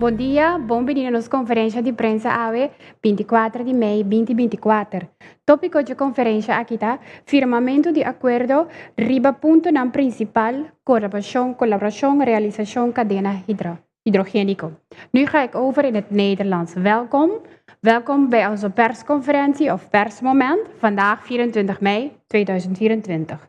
Bon dia, bon bini na nos konferensha di prensa awe, binti kuater di mei, binti binti kuater. Tópiko dje konferensha aki ta, Firmamentu di akuerdo riba puntonan prinsipal, Konservashon, Kolaborashon, Realisashon Kadena Hidrogéniko. Nu ga ek over in het Nederlands. Welkom, welkom bij onze persconferentie of persmoment, vandaag 24 mei 2024.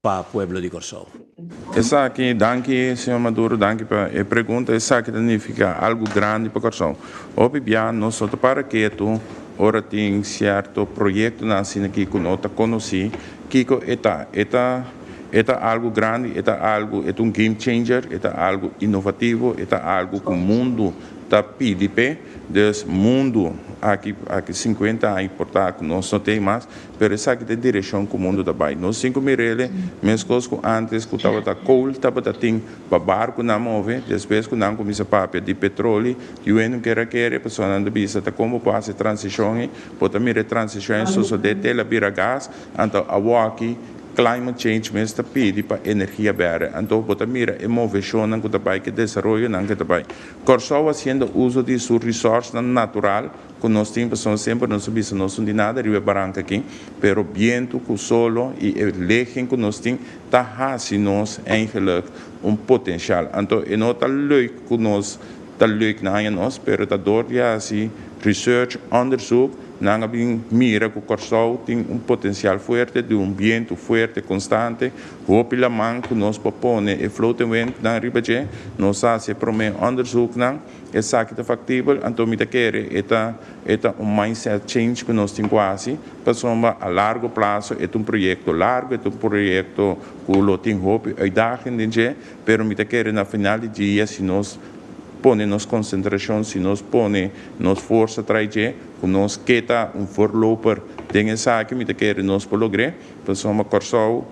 pa pueblo di Kòrsou. Esaki, danki señor Maduro, danki pa e pregunta. Esaki ta nifiká algu grandi pa Kòrsou. Hopi bia nos no ta para ketu ora tin sierto proyektonan asina ki ku no ta konosí kiko e ta. E ta e ta algu grandi, e ta algu, e ta un game changer, e ta algu inovativo, e ta algu ku mundu ta pidi p'e. Dus mundu aki aki sinkuenta aña por ta ku nos no t'ei mas, Pero esaki ta e direcion cu mundo ta bay. Nos tin cu mirele, mescos cu antes cu tabata coal tabata tin pa barco nan move, despues cu nan cuminsa papia di petroli, yuwe no ker a kere, personanan ta bisa ta como por haci e transicion ei, por ta mira e transicion ei a sosode te el a bira gas, anto awoki climate change mes ta pidi pa energia berde, anto bo ta mira e movecionnan cu ta bay cu e desaroyonan cu ta bay. Corsou haciendo uso di su resourcenan natural, Ku nos tin pasobra semper nos a bisa nos un di nada riba e baranka aki, pero bientu ku solo i e legen ku nos tin ta hasi nos eigenlijk un potensial. Anto e no ta leuk ku nos ta leuk na aña nos, pero ta dor di hasi research, onderzoek. Nan a bin mira ku Kòrsou tin un potensial fuerte di un bientu fuerte konstante. Hopi laman ku nos por pone e floating windnan riba dje. Nos a hasi e promé onderzoeknan. Esaki ta factibel, anto mi ta kere e ta e ta un mindset change cu nos tin cu haci, pasobra a largo plazo e ta un proyecto largo, e ta un proyecto cu lo tin hopi uitdaging den dje, pero mi ta kere na final di dia si nos pone nos concentracion, si nos pone nos forsa trae dje, cu nos keta un voorloper den esaki, mi ta kere nos por logr'é. Nos home Kòrsou,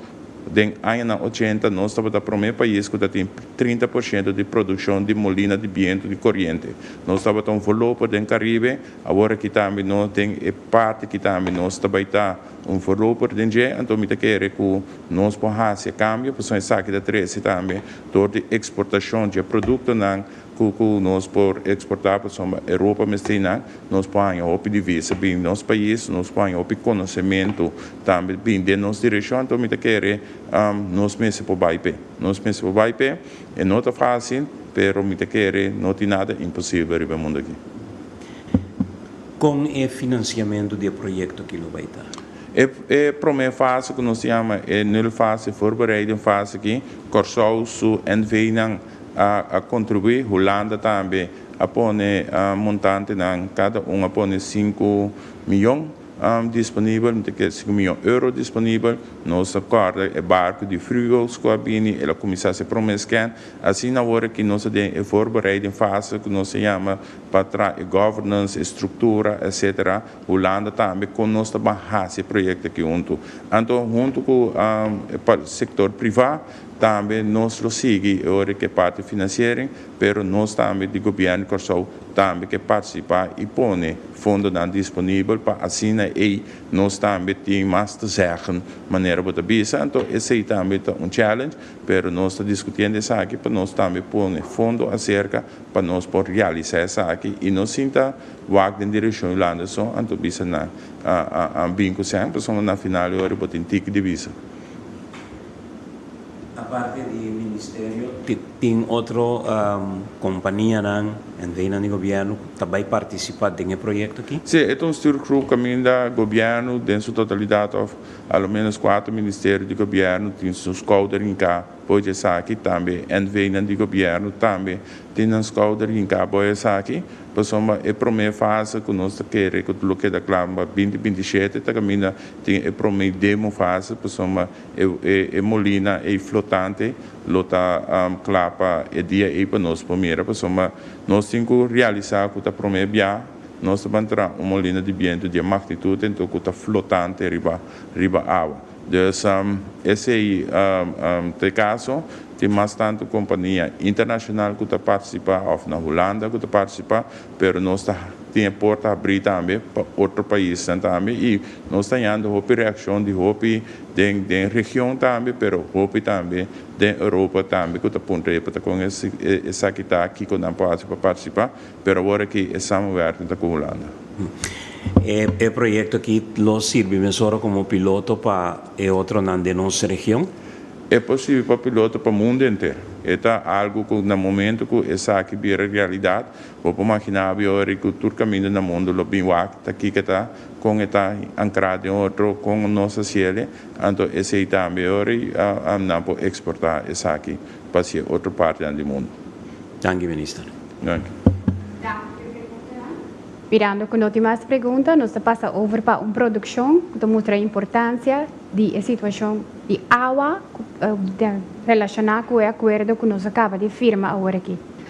den añanan ochenta nos tabata promé pais ku ta tin trinta por shento di produkshon di molina di bientu di koriente. Nos tabata un volopo den Karibe, awor aki tambe nos den e parti ki tambe nos ta bai ta un volopo den dje, anto mi ta kere ku nos por hasi e kambio pasobra esaki ta trese tambe dor di eksportashon dje produktonan Ku ku nos por eksportá pasobra Europa mester nan, nos por haña hopi divisa bini nos pais, nos por haña hopi konosementu tambe bini den nos direkshon. Anto mi ta kere nos mester por bai p'e. Nos mester por bai p'e. E no ta fásil, pero mi ta kere no tin nada imposibel riba e mundu aki. Kon e finansiamentu di e proyekto aki lo bai ta? E e promé fase ku nos ta yama e nul fase, voorbereiding fase, aki Kòrsou su NV-nan a contribui, Hulanda tambe a pone montantenan, cada un a pone sinku miyon disponibel, mi ta kere sinku miyon euro disponibel, nos ta corda e barco di Vruwels cu a bini, el a cuminsa su prome scan, asina awor aki nos ta den e voorbereiding fase cu nos ta yama pa traha e governance, e structura etc. Hulanda tambe con nos ta ban haci e project aki huntu, anto huntu cu sector priva Tambe nos lo sigui e ora ke parti finansiering, pero nos tambe di Gobièrnu di Kòrsou tambe ke partisipá i pone fondonan disponibel pa asina ei nos tambe tin mas te zèggen manera bo ta bisa. Anto esei tambe ta un challenge, pero nos ta diskutiendo esaki pa nos tambe pone fondo aserka pa nos por realisá esaki i no sinta wak den direkshon Yolanda so, anto bisa nan a bin ku sèn, pasobra na final e ora bo tin tiki di bisa. aparte di e ministerio. Tin otro companianan en Reino di Gobierno cu ta bay participa den e proyecto aki? Sí, e ta un stuurgroep caminda Gobierno den su totalidad of a lo menos cuater ministerio di Gobierno tin su schouder hinca boe di esaki, tambe NVnan di Gobierno tambe tin nan schouder hinca boe esaki, pasobra e prome fase cu nos ta kere cu lo keda cla, bindi binti shete ta caminda tin e prome demo fase, pasobra. E molina ei flotante lo ta cla pa e dia ei pa nos por mira, pasobra nos tin cu realisa cu ta prome bia nos ta ban traha un molina di bientu di e magnitud ento cu ta flotante riba riba awa. Dus esey ta e caso, tin mas tanto compania internacional cu ta participa of na Hulanda cu ta participa, Pero nos ta tin e porta abrí tambe pa otro paisnan tambe i nos ta yanda hopi reakshon di hopi den den region tambe pero hopi tambe den Europa tambe ku ta puntra e pata kon esaki ta kiko nan por hasi pa partisipá pero awor aki e samenwerking ta ku Hulanda. E proyekto aki lo sirbi mesora komo piloto pa e otronan den nos region? E por sirbi pa piloto pa mundo enter. E ta algu ku na momentu ku esaki bira realidat Bo por magina abi ora cu tur caminda na mundo lo bin wak ta kico ta, con e ta ancra den otro, con nos ta ciele, anto esey tambe ora nan por exporta esaki pa si e otro partenan di mundo. Danki Minister. Danki. Mirando cu no tin mas pregunta nos ta pasa over pa un produccion cu ta mustra importancia di e situacion di awa cu ta relaciona cu e acuerdo cu nos a caba di firma aworaki.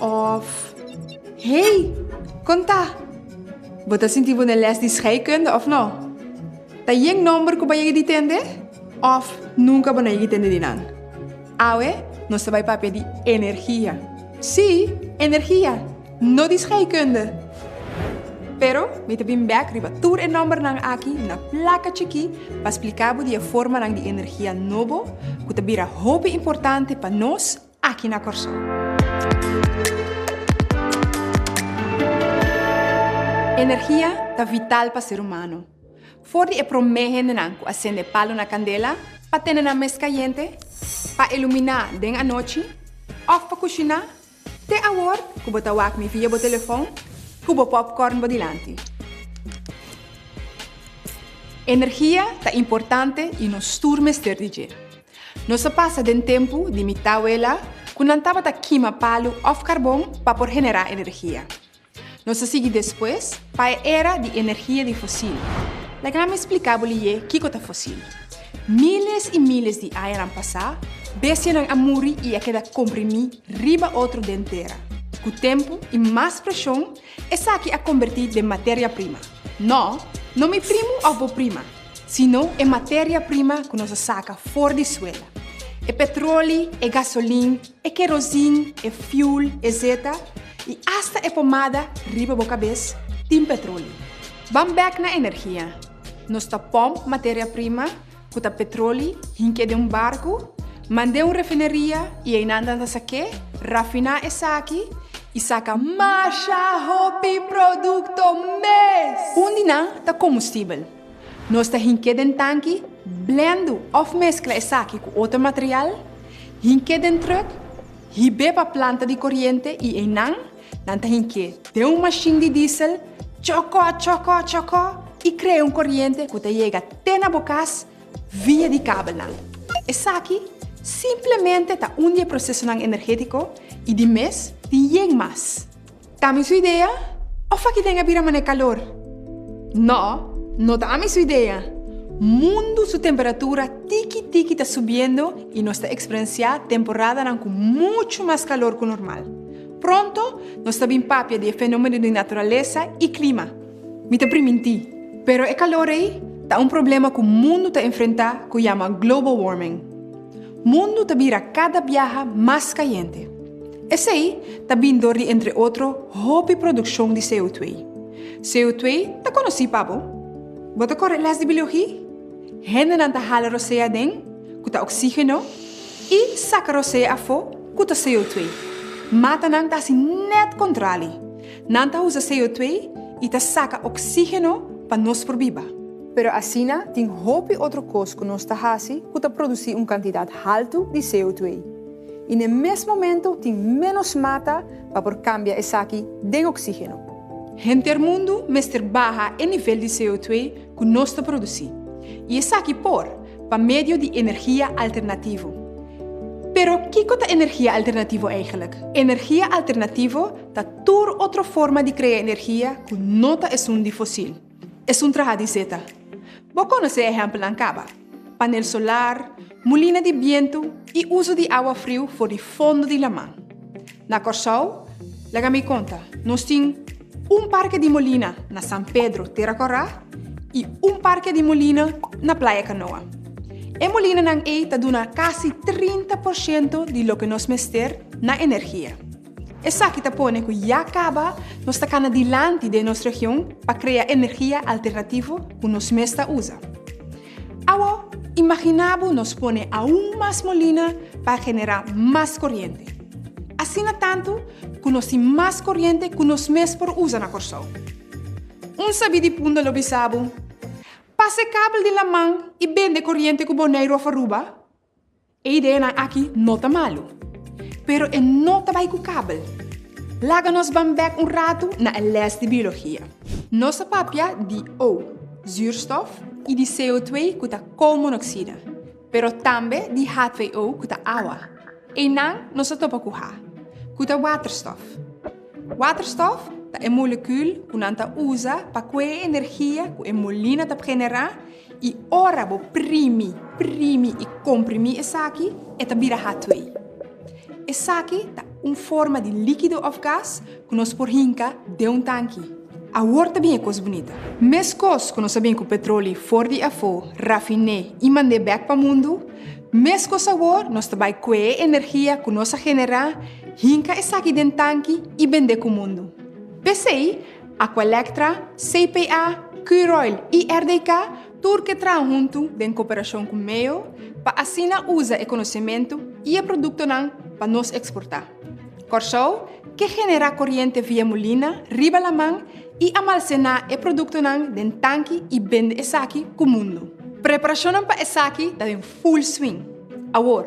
Òf, Hey, kon ta? Bo ta sinti bo na lès di scheikunde, òf no? Ta yen nòmber ku bo a yega di tende? Òf nunka bo no a yega di tende di nan? Awe nos ta bai papia di energia. Sí, energia, no di scheikunde! Pero mi ta bin bèk riba tur e nòmbernan aki na plaka chikí pa splika bo di e formanan di energia nobo ku ta bira hopi importante pa nos, aki na Kòrsou. Energia ta vital pa ser humano. For di e promé hendenan cu a sende palu na candela pa tene nan mes cayente, pa ilumina den anochi, of pa cushina, te awor cu bo ta wak mi via bo telefon cu bo popcorn bo dilanti. Energia ta importante y nos tur mester di dje. Nos a pasa den tempu di mi tawela ku nan tabata kima palu òf karbon pa por generá energia. Nos a sigui despues pa e era di energia di fosil. Laga mi spliká bo lié kiko ta fosil. Míles i míles di añanan pasá, bestianan a muri i a keda komprimí riba otro den tera. Ku tempu i mas preshon, Esaki a kombertí den materia prima. Nò, no mi primu òf bo prima, sino e materia prima ku nos a saka for di suela. E petroli, e gasolin, e kerosin, e fiul, ezeta, i asta e pomada riba bo kabes tin petroli. Ban bèk na energia. Nos ta pòmp materia prima. ku ta petroli, hink'é den un barku, mand'é un refineria i einan nan ta sak'é, rafiná esaki i saka masha hopi produkto mes! Un di nan ta kombustibel. Nos ta hink'é den tanki, blendu òf meskla esaki ku otro material, hink'é den trùk, hib'é pa planta di koriente i einan, Nan ta hink'é den un mashin di diesel, chokó, chokó, chokó, i krea un koriente ku ta yega te na bo kas via di kabelnan. Esaki simplemente ta un di e prosesonan energétiko i di mes tin yen mas. Ta mi su idea? Òf aki den a bira manera kalor? Nò, no ta ami su idea. Mundu su temperatura tiki tiki ta subiendo i nos ta eksperensiá temporadanan ku muchu mas kalor ku normal. Pronto nos ta bin papia di e fenomeno di naturalesa i klima. Mi ta priminti, pero e kalor ei ta un problema ku mundu ta enfrentá ku yama global warming. Mundu ta bira kada biaha mas kayente. Esei ta bin dor di entre otro hopi produkshon di CO2. CO2 ta konosí pa bo? Bo ta kore lès di biologi? Hendenan ta hala rosé aden, ku ta oksígeno, i saka rosé afó, ku ta CO2. Matanan ta hasi nèt kontrali. Nan ta usa CO2 i ta saka oksígeno pa nos por biba. Pero asina tin hopi otro kos ku nos ta hasi ku ta produsí un kantidat haltu di CO2. I n'e mes momentu tin ménos mata pa por kambia esaki den oksígeno. Henter mundu mester baha e nivel di CO2 ku nos ta produsí, i esaki por pa medio di energia alternativo. Pero kiko ta energia alternativo eigenlik? Energia alternativo ta tur otro forma di krea energia ku no ta esun di fosil. Esun traha di zeta. Bo konosé ehèmpelnan kaba. panel solar, mulina di bientu i uso di awa friu for di fondo di laman. Na Kòrsou, laga mi konta, nos tin un parke di molina na San Pedro, Tera Kòrá, i un parke di molina na Playa Kanoa. E molinanan ei ta duna kasi trinta por shento di loke nos mester na energia. Esaki ta pone cu ya caba nos ta cana dilanti den nos region pa crea energia alternativo cu nos mes ta usa. Awo, imagina bo nos pone aun mas molina pa genera mas coriente. Asina tantu cu nos tin mas coriente cu nos mes por usa na Corsou. Un sabi di punta lo bisa bo, Pase kabel di laman y bende coriente cu Boneiru of Aruba? E ideanan aki no ta malu, pero e no ta bai ku kabel. Laga nos ban bèk un ratu na e lès di biologia. Nos a papia di O, zuurstof, i di CO2, ku ta koolmonoksida, pero tambe di H2O, ku ta awa. Einan nos a topa ku H, ku ta waterstof. Waterstof ta e molekul ku nan ta usa pa kue e energia ku e molina ta pgenerá I ora bo primi, primi i komprimí esaki, e ta bira hatwei. Esaki ta un forma di líkido òf gas ku nos por hinka den un tanki. Awor ta bin e kos bunita. Meskos ku nos a bin ku petroli for di afó, rafiné i mand'é bèk pa mundu, meskos awor nos ta bai kue e energia ku nos a generá, hinka esaki den tanki i bend'é ku mundu. P'esei, Aqualectra, CPA, Curoil y RDK tur ke traha huntu den cooperacion cu MEO pa asina uza e conocemento y e productonan pa nos exporta. Corsou ke genera coriente via molina riba laman y amalcena e productonan den tanki y bende esaki cu mundo. Preparacionnan pa esaki ta den full swing awor.